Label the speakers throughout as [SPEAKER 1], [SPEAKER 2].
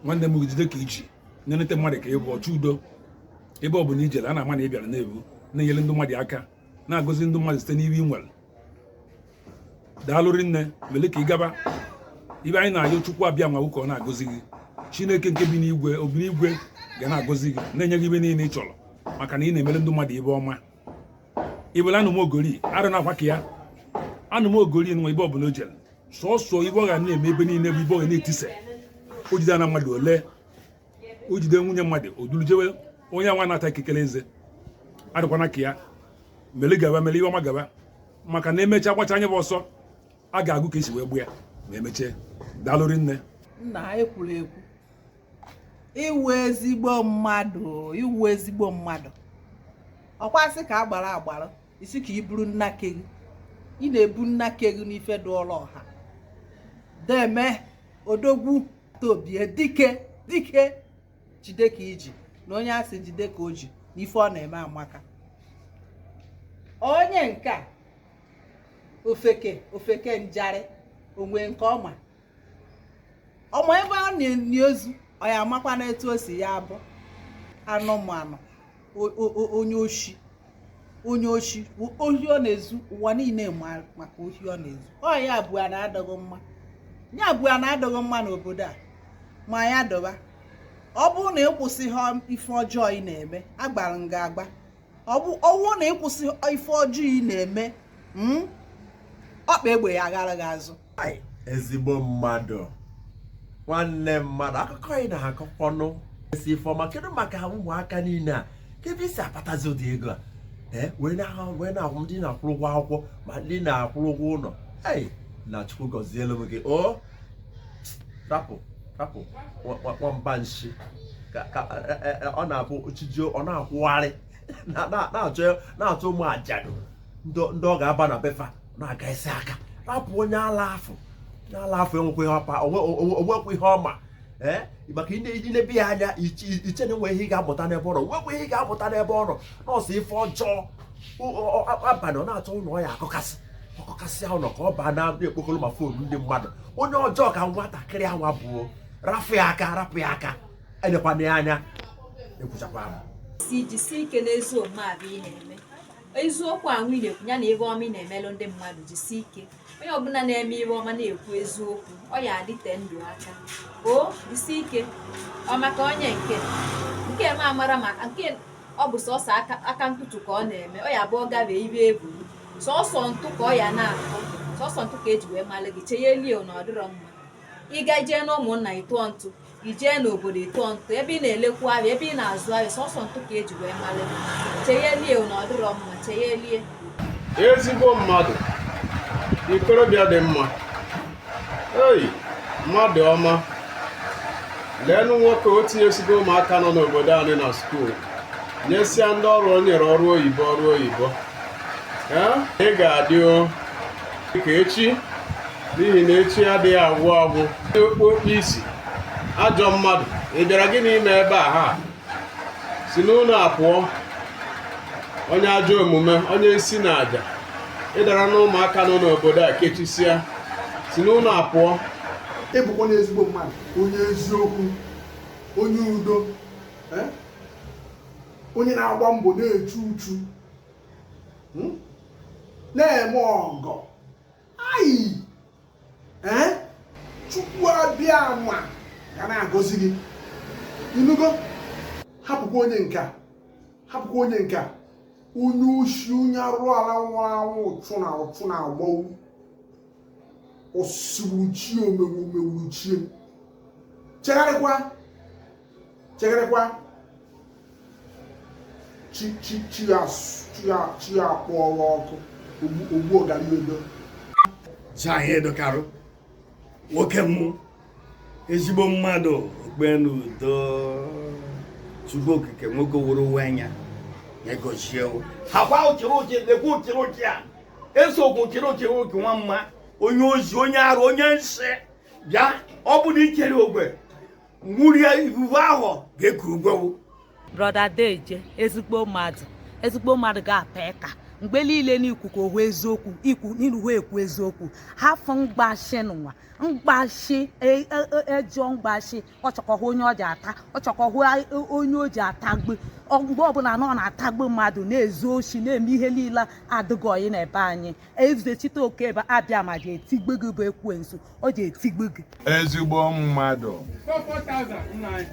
[SPEAKER 1] nwanne m jide ka i ji na-enete mmadụ ka ị bụ ọchụ udo ebe ọ bụla i jere a na-ama na ị bịara na-ebu na-enyere ndị mmadụ aka na-agọzi ndị mmadụ site n'ihe ị nwere daalụ rinne mele ka ị gaba ibe anyị na-ayọ chukwu abịama ka ọ na-agọzi gị chineke nke bi n'igwe obi n'igwe ga na-agọzi gị na-enye gị ibe niile ị chọrọ maka na ị na-emere ndị mmadụ ibe ọma ị bụla anụ m ogori arụ na akwa ka ya anụ m ogori nwa ebe ọbụla o jere sọsọ ibe ọ ga na-eme ebe niile bụ ibe ọ ga na-etisa o jide nwa mmadụ ole o jide nwunye mmadụ o duru jewe onye nwa na-ata ikikere eze adịkwana ka ya mele gaba mele ibe ọma gaba maka na emechaa gbacha nya bụ ọsọ a ga-agụ ka e si wee gba ya ma emechee daalụ rinne nna anyị kwuru
[SPEAKER 2] ekwu ị wụ ezigbo mmadụ ị wụ ezigbo mmadụ ọ kwa a sị ka a gbara agbara isi ka i buru nna ke gị ị na-ebu nna ke gị n'ife dị ọrụ ọha deeme odogwu tobie dike dike jide ka i ji na onye a sị jide ka o ji n'ife ọ na-eme amaka onye nke a ofeke ofeke njarị onwe nke ọma ọma ebe a na-enye ozu ọ ya amakwa na etu o si ya abụ anụmanụ onye oshi onye oshi ohi ọ na-ezu ụwa niile maka ohi ọ na-ezu ọ ya bụ ana adịghị mma ya bụ ana adịghị mma n'obodo a ma ya dịba ọ bụrụ na ị kwụsịghị ife ọjọọ ị na-eme agbara nga agba ọ wụ na ị kwụsị ife ọjọọ ị na-eme hmm? ọkpa egbe ya aghara gị azụ ezigbo
[SPEAKER 3] mmadụ nwanne mmadụ akụkọ ị na-akọkwanụ esi ifeọma kedu maka ụmụaka niile a kee ebe i si akpatazi ụdị ego a eh, wee na-ahụ ndị na-akwụrụ ụgwọ akwụkwọ ma ndị na-akwụrụ ụgwọ ụlọ na chukwu gọzielu m gị o oh! rapụ rapụ nwamba nshi e, e, e, ọ na-abụ chijio ọ na-akwụgharị na-achọ ụmụ ajadu ndị ọ ga-aba na befa na-aga isi aka rapụ onye ala afọ onye ala afọ e nwekwa ihe ọ ma o nwekwa ihe ọ ma ee maka i nebe ya anya i chee na e nwe ihe ị ga-amụta n'ebe ọ nọ o nwekwa ihe ị ga-amụta n'ebe ọ nọ sọ ife ọjọọ abalị ọ na-achọ ụlọ ọ ya-akụkasị ọ kụkasịa ụnọ ka ọ baa na-ekpokoro ma fon ndị mmadụ onye ọjọọ ka nwatakịrị anwa bụ o rapụ ya aka rapụ ya aka elekwana ya anya ekwuchakwa m si jisie ike n'ezi
[SPEAKER 4] omume ahụ ị na-eme eziokwu ahụ ị na-ekwu ya na ibe ọma ị na-emelụ ndị mmadụ jisie ike onye ọbụla na-eme ibe ọma na-ekwu eziokwu ọ ya-adịte ndụ aka o jisie ike o maka onye nke nke ma mara ma nke ọ bụ sọsọ aka ntụtụ ka ọ na-eme ọ ya bụ ọ gabe ibe ebu sọsọ ntụ ka ọ ya na-atụ sọsọ ntụ ka e ji wee malụ gị cheyelie na ọ dịrọ mma ị ga jee na ụmụnna ị tụọ ntụ i jee n'obodo ị tụọ ntụ ebe ị na-elekwu ahịa ebe ị na-azụ ahịa sọsọ ntụ ka e ji wee malụ gị cheyelie na ọ dịrọ mma cheyelie
[SPEAKER 5] ezigbo mmadụ ikorobịa dị mma ei mmadụ ọma leenụ nwoke o tinyesigo ụmụaka nọ n'obodo anyị na skuul nyesịa ndị ọrụ o nyere ọrụ oyibo ọrụ oyibo ị ga-adị ka echi n'ihi na echi adịghị agwụ agwụ okpu okpu isi ajọ mmadụ ị bịara gịnị ime ebe a ha si n'ụlọ a pụọ onye ajọ omume onye nsi na aja ị dara na ụmụaka nọ n'obodo a kechisịa si n'ụlọ a pụọ ị bụkwa na
[SPEAKER 6] ezigbo mmadụ onye eziokwu onye udo eh? onye na-agba mbọ na-echu uchu hmm? na-eme ọgọ ayi ee chukwu abịama ga na-agọzi gị inugo hapụkwa onye nke a hapụkwa onye nke a onye oshi onye arụ ala nwụrụ anwụ ụchụ na ụchụ na-agbawu ọsụgburuchie omegbu omegburuchie chegharịkwa chegharịkwa chi akpọwa oku ogbu ogariodo chi
[SPEAKER 7] anyị edokarụ nwoke mụ ezigbo mmadụ okpenu udo chukwu okike nwoke wuru uwe anya egochie ha kwa ụchịrị ụchị lekwa ụchịrị ụchị a eso okwu ụchịrị ụchịrị ụchị nwa mma onye ohi onye arụ onye nsi bịa ọ bụ na i kere ogwe nwurie ifufe ahụ ga-ekuru
[SPEAKER 8] gwewu brother deje ezigbo
[SPEAKER 7] mmadụ ezigbo
[SPEAKER 8] mmadụ ga-apa ịka mgbe
[SPEAKER 2] niile n'ikuku ohu eziokwu ikwu n'iruhu ekwu eziokwu hafụ mgbashi n'ụwa mgbashi e- e- e- ejọ mgbashi ọchọkọhụ onye ọ ji ata ọchọkọhụ a- o- onye o ji atagbu Ọ- mgbe ọbụla na ọ na-atagbu mmadụ na-ezu oshi na-eme ihe niile adịghị ọyị n'ebe anyị ezechitoke abịama ji etigbu gị bụ ekwensu ọ ji etigbu gị
[SPEAKER 8] ezigbo mmadụ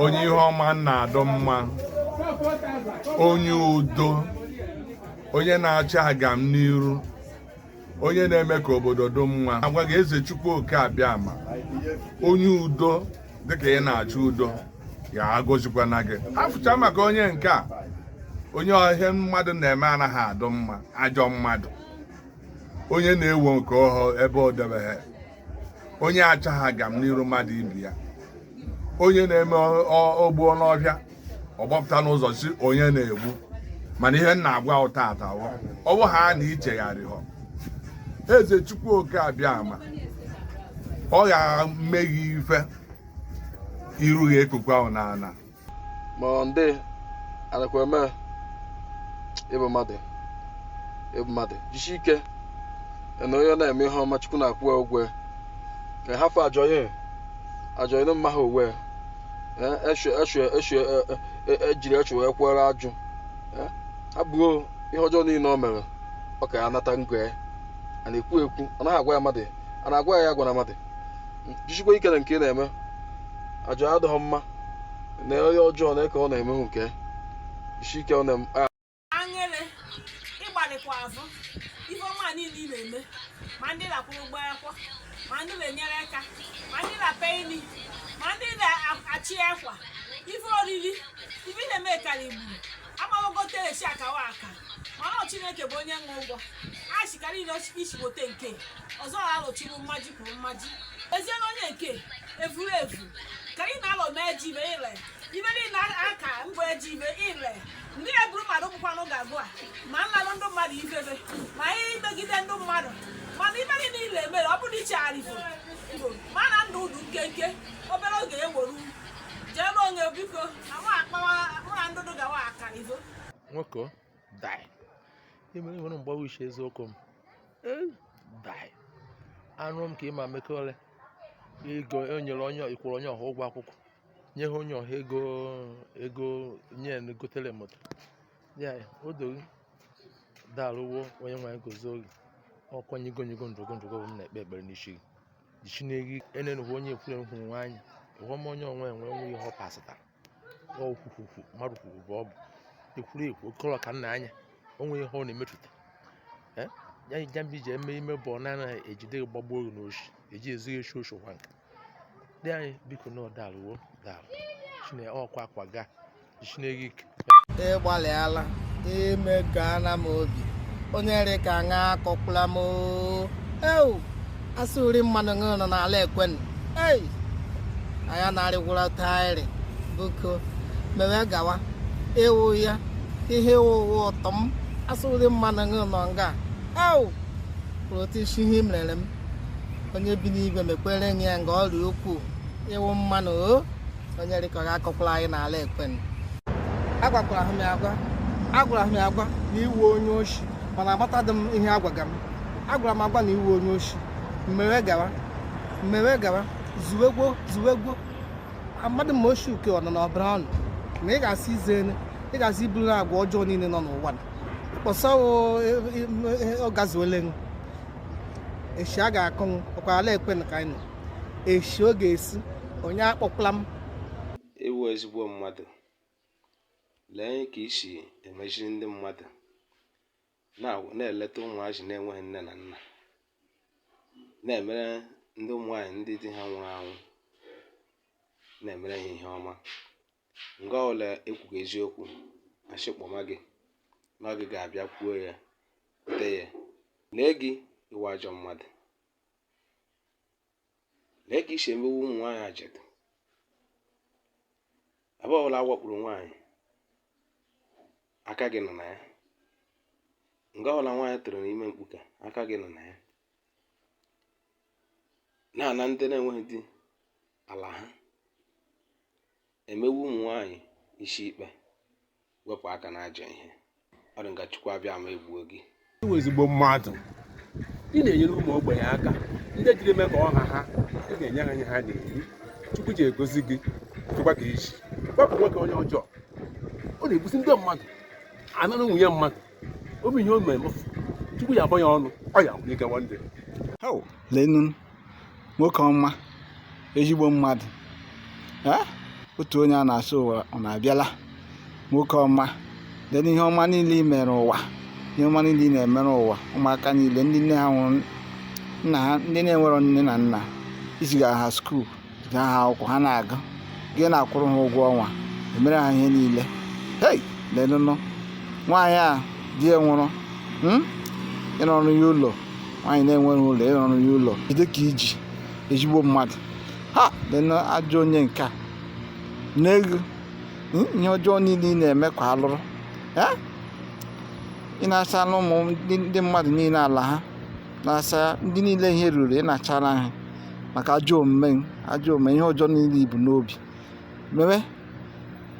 [SPEAKER 8] onye ihe ọma na-adụ mma onye udo onye na-achọ agam n'iru onye na-eme ka obodo dị mma agwa gị eze chukwu oke abịama onye udo dịka ị na-achọ udo ya agozikwana gị afụcha maka onye nke a onye ihe mmadụ na-eme anaghị adụ mma ajọ mmadụ onye na-ewo nke ọ hụ ebe o debeghị onye achọghị agam n'iru mmadụ ibe ya onye na-eme ogbuo n'ọhịa ọ gbapụta n'ụzọ sị onye na-egbu mana ihe m na-agwa ụ taata wụ ọ bụ ha na i chegharịhọ eze chukwu oke abịama ọ ga-eme gị ife iru gị ekpukwa ahụ n'ala ma
[SPEAKER 9] ndị anakwa eme ị bụ mmadụ ị bụ mmadụ jisi ike na onye na-eme ihe ọma chukwu na-akwụ ya ụgwọ ya ka hafụ ajọ ihe ajọ ihe mma ha uwe ejiri eche wee kwere ajụ abụghị ihe ọjọọ niile o mere ọ ka ya-anata ngo ya a na-ekwu ekwu ọ naghị agwa ya mmadụ a na-agwa ya ya gwara mmadụ jisikwa ike na nke ị na-eme ajọ adịghị mma na onye ọjọọ na eke ọ na-emehu nke jisi ike ọ na anyere
[SPEAKER 10] ị gbalịkwa azụ ife ọma niile ị na-eme ma ndị na-akwụrụ ụgwọ akwụkwọ ma ndị na-enyere aka ma ndị na-ape ili ma ndị na-achị akwa ife oriri ife ị na-eme kara igbu amagogote esi akawa aka mana chineke bụ onye nwe ụgwọ a chikara ile ichigote nke ọzọ alụchiri mmaji kwuru mmaji ezie na onye nke evuru evu ka ị na-alọ mee ji ibe ile ibe niile aka ngwa eji ibe ile ndị eburu mmadụ bụkwanụ ga-agụ a ma nlalụ ndị mmadụ ibebe ma ihe i megide ndị mmadụ mana ibe gị niile emere ọ bụrụ i chegharịfọ ma na ndụ dị nkenke obere oge eweru jee n'onwe biko na mụ akpawa mụ na ndụdụ gawa akarivo nwoke
[SPEAKER 11] dai imere nwere mgbawa uche eziokwu m Eh, bai. anụrụ m ka ịma mekọrị ego enyere onye ị kwụrụ onye ọha ụgwọ akwụkwọ nye ha onye ọha ego ego nye ya na gotere moto ya ya, o doro daarụ wo onyenwe anyị gọzie gị ọkwanye igo nyigo ndụgo ndụgo bụ m na-ekpe ekpere n'isi gị jichi n'egi enenụhụ onye ekwure hụrụ nwaanyị ihe ọma onye onwe enwe enwe ihe ọ pasịtara n'okwukwukwu mmadụ kwuru bụ ọ bụ ekwuru ekwu okọrọ ka nna anya o nwere ihe ọ na-emetụta Eh? ya ija mgbe iji eme ime bụ ọ na-anaghị ejide gị gbagbuo gị n'oshi eji ezughị eshi oshi kwa nka dị anyị biko na daalụ wo dalụ chine ọkwa akwa ga chineke ike ị gbalịala
[SPEAKER 12] ime gaana m obi onye rị ka ṅa akọkwula m oo. ewu a sị wụrị mmanụ aṅụ nọ n'ala ekwenụ ei anya na-arịgwụra taịrị biko mewe gawa ị wụ ya ihe ị wụ ụwa ụtọ m a sị wụrị mmanụ aṅụ nọ nga au kwuru otu isi ihe i mere m onye bi n'igwe mekwere gị ya nga ọ rị ukwuu ị wụ mmanụ o onye dịka ọ ga-akọkwala anyị n'ala ekwensu agwakwara ha m ya agwa agwara m ya agwa na ị wụ onye oshi mana agbataghị m ihe a gwaga m agwara m agwa na ị wụ onye oshi mmewe gawa zuwegwo amadị m oshi uke ọnọ na ọbara ọnụ na ị ga-asị ize ene ị ga-asị iburu na agwa ọjọọ niile nọ n'ụwa na kpọsa ọ gazuole m echi a ga-akọnwụ ọkwa ala ekwensu ka anyị nọ eshi ọ ga-esi onye akpọkwala m ị
[SPEAKER 13] wụ ezigbo mmadụ lee ka i si emeziri ndị mmadụ na-eleta ụmụazị na-enweghị nne na nna na-emere ndị ụmụ nwaanyị ndị di ha nwụrụ anwụ na-emere ha ihe ọma nga ọla ekwughị eziokwu achịkpọma gị na gị ga-abịa kwuo ya te ya lee gị ị wụ ajọ mmadụ lee ka i si emewu ụmụ nwaanyị ajadu ebe ọbụla a wakpuru nwaanyị aka gị nọ na ya nga ọbụla nwaanyị tụrụ ime mkpuke aka gị nọ na ya na-ana ndị na-enweghị di ala ha emewu ụmụ nwaanyị isi ikpe wepụ aka n'ajọ ihe ọ dị nga chukwu abịa ma egbuo gị ị
[SPEAKER 5] wụ ezigbo mmadụ ị na-enyere ụmụ ogbenye aka ndị jiri eme ka ọha ha ị ga-enye ha ihe ha na-eri chukwu ji agọzi gị tụkwa ka i ji gbapụ nwoke onye ọjọọ ọ na-egbusi ndị mmadụ anara nwunye mmadụ obi ihe o mere m tupu ya akpọ ya ọnụ ọ ya nwunye gawa ndị Hau,
[SPEAKER 12] lenu nwoke ọma ezigbo mmadụ Eh, otu onye a na-asụ ụwa ọ na-abịala nwoke ọma lenu ihe ọma niile i mere ụwa ihe ọma niile ị na-emere ụwa ụmụaka niile ndị nne ha nwụrụ nna ha ndị na-enwerọ nne na nna i ziga ha skuul ziga ha akwụkwọ ha na-agụ gị na-akwụrụ ha ụgwọ ọnwa emere ha ihe niile hei lenụnụ nwaanyị a di ya nwụrụ hmm? ị rụọrọ ya ụlọ nwaanyị na-enweghị ụlọ ị rụọrọ ya ụlọ jide ka i ji ezigbo mmadụ ha lenụ ajọ onye nke a n'ego hmm? ihe ọjọọ niile ị na-eme kwa alụrụ ị na-asala ụmụ ndị mmadụ niile ala ha na-asa ndị niile ihe ruru ị na-achara ha maka ajọ omume ajọ omume ihe ọjọọ niile i bu n'obi mewe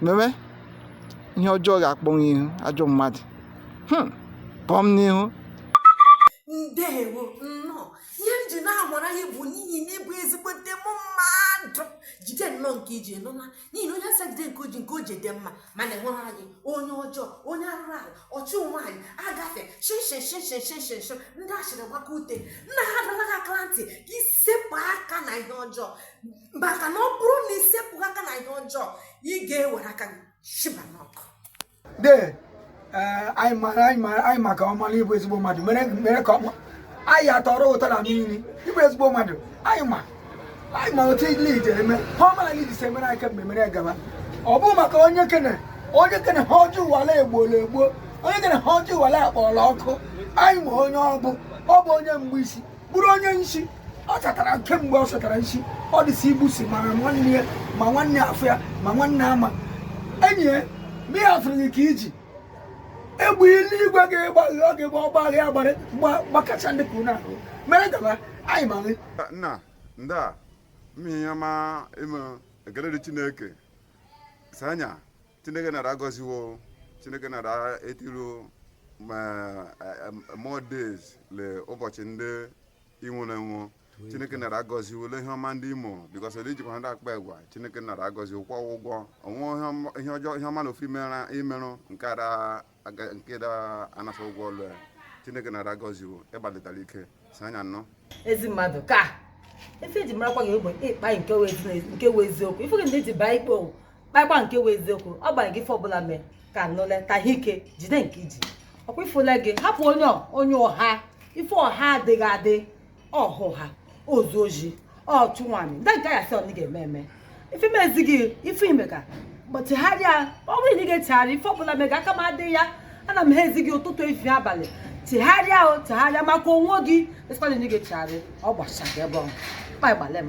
[SPEAKER 12] mewe ihe ọjọọ ga-akpọnwụ ị wụ ajọ mmadụ hmm, pụọ m
[SPEAKER 14] n'ihu ndewo nnọọ ihe m ji na-amara ya bụ n'ihi na ị bụ ezigbote m mmadụ jide nnọọ nke i ji nụla n'ihi na onye asị ya jide nke o ji nke o ji dị mma mana enweghị anyị onye ọjọọ onye arụrụ ala ọchụ nwaanyị agafe shinshinshinshinshinshin ndị ashịrị gbaka ute nna ha dọla gị aka na ntị ka isepụ aka na ihe ọjọọ maka na ọ bụrụ na isepụ aka na ihe ọjọọ ị ga-ewere aka gị shiba n'ọkụ de
[SPEAKER 15] eh, anyị mara anyị mara anyị maka ọmara ịbụ ezigbo mmadụ mere mere ka ọma anyị atọrọ ụtọ na mmiri ịbụ ezigbo mmadụ anyị ma anyị ma otu lid eme ihe ọma lid si emere anyị kemgbe mere gaba ọ bụ maka onye kene onye kene ihe ọjọọ ụwala egbuola egbuo onye kene ihe ọjọọ ụwala akpọọla ọkụ anyị ma onye ọ bụ ọ bụ onye mgbe isi bụrụ onye nshi ọ chatara kemgbe ọ chatara nshi ọ dịsị igbusi ma nwanne ya ma nwanne afọ ya ma nwanne ama enyi ya ma ya afụrụ gị ka iji egbe eluigwe ga-agba gị ọ ga-egbe ọ gba gị agbara gbakacha ndị kwuru na ahụ mere gaba anyị ma gị
[SPEAKER 16] nna ndị a mmehie ya ma ịmụ ekele dị chineke sanya chineke nara agọziwo chineke nara etiru more days le ụbọchị ndị inwere enwe chineke nara agọziwo le ihe ọma ndị imo because ele ijikwa ndị akpa egwa chineke nara agọziwo kwụọ ụgwọ onwe ihe ọjọọ ihe ọma na ofu imerụ nke ara nke da anafa ụgwọ ọlụ ya chineke nara agọziwo ịgbalitara ike si anya nnọọ ezi mmadụ ka
[SPEAKER 17] ife eji marakwa gị bụ ịkpa nke wụ eziokwu ife gị ndị ji baa ikpe owu kpakpa nke wụ eziokwu ọ gbara gị ife ọbụla mee ka nụle ka ha ike jide nke iji ọkwa ifụla gị hapụ onye onye ọha ife ọha adịghị adị ọhụ ha ozu ohi ọchụ nwaanyị ndị nke ya sị ọ ga-eme eme ife mezi gị ife ị mega bụ chegharịa ọ bụrụ na ị ga-echegharị ife ọbụla mega aka m adịghị ya ana m ha ezi gị ụtụtụ efi abalị chegharịa o chegharịa maka onwe gị esikwana na ị ga-echegharị ọ gbasa gị ebe ọhụ kpa ịgbalị m